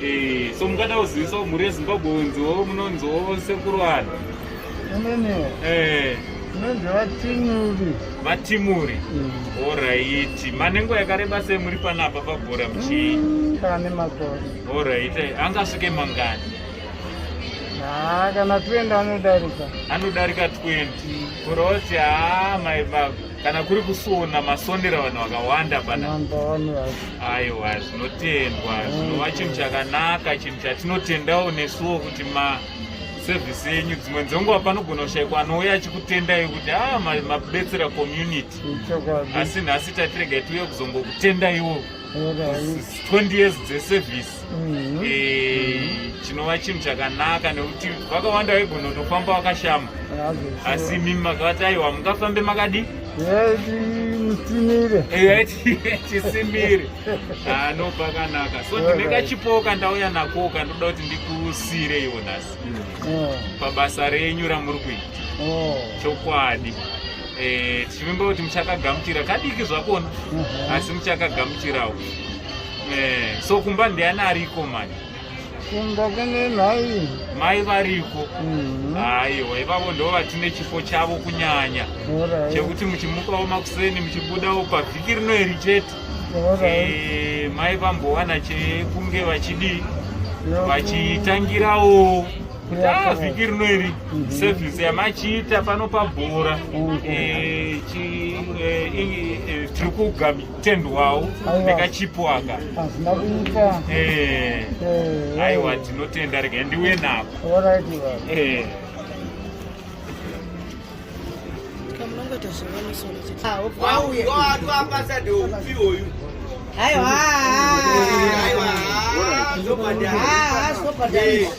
Eh, so mukada kuzivisawo mhuri yezimbabwe unziwo munonziwo sekuru vanhu ininiwo eh. inonzi vatimuri vatimuri mm. oraiti manengo yakareba sei muri panapa pabhora muchii mm, pane makore oraiti eh, angasvike mangani haa kana 20 anodarika anodarika 20 mm. kuroti haa mai baba kana kuri kusona masondera vanhu vakawanda pana aiwa zvinotendwa zvinova chinhu chakanaka chinhu chatinotendawo nesuwo kuti ma service yenyu dzimwe dzenguva panogona kushaikwa anouya achikutendai kuti a ah, mabetsera community asi nhasi tatiregai tiuye kuzongokutendaiwo 20 years dzeservice mm-hmm. eh, chinova chinhu chakanaka nekuti vakawanda vaigona kutofamba wakashama asi mimi makavati aiwa mungafambe makadii musimire chisimire ano pakanaka so ndine kachipowo kandauya nako kandoda kuti ndikusire iwo nhasi mm. pabasa renyu ramuri kuita oh. chokwadi eh, tichivimba kuti muchakagamuchira kadiki zvakona mm-hmm. asi muchakagamuchirawo Eh, so kumba ndiani ariko mani? Kumba kune mai. Mai variko. Mhm. Aiwa, ivavo ndo vatine chifo chavo kunyanya. Ora. Chekuti muchimukawo makuseni muchibudawo pavhiki rino iri chete. Ora. Eh, mai vambowana chekunge vachidi vachitangirawo ta vhiki rino iri mhm. service yamachiita pano pabhora mhm. eh, eh, eh, tiri kugami tendwawo nekachipo aka hazvina kuita eh. Eh. aiwa tinotenda rega ndiuye nako eh. Aiwa.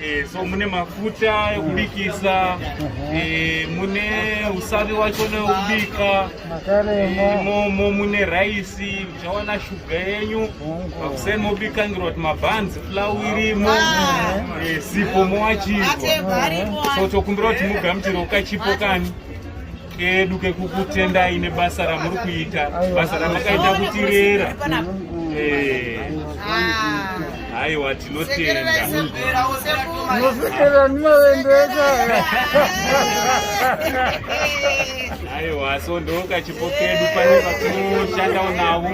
Eh, so mune mafuta ekubikisa eh, mune usavi wacho neubika imomo eh, mune raisi uchawana shuga yenyu pakuseni mobikangirwa kuti mabhanzi flau irimo ah. sipo mowachirwa so tokumbira kuti mugamuchirwa kachipo kani kedu kekukutendai nebasa ramuri kuita basa ramakaita kutirera eh. aiwa tinotenda aiwa so ndokachipo kedu pane vatinoshandawo navo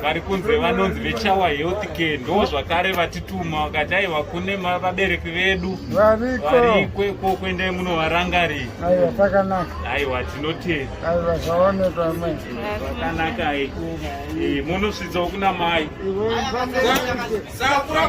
vari kunze vanonzi vechawa health care ndo zvakare vatituma vakati aiwa kune vabereki vedu variko ikwekwokwendae munovarangarii Aiwa pakanaka. Aiwa tinotenda. Aiwa zvaonekwa mai. Pakanaka ai. Eh, eh munosvitsawo kuna mai. Sakura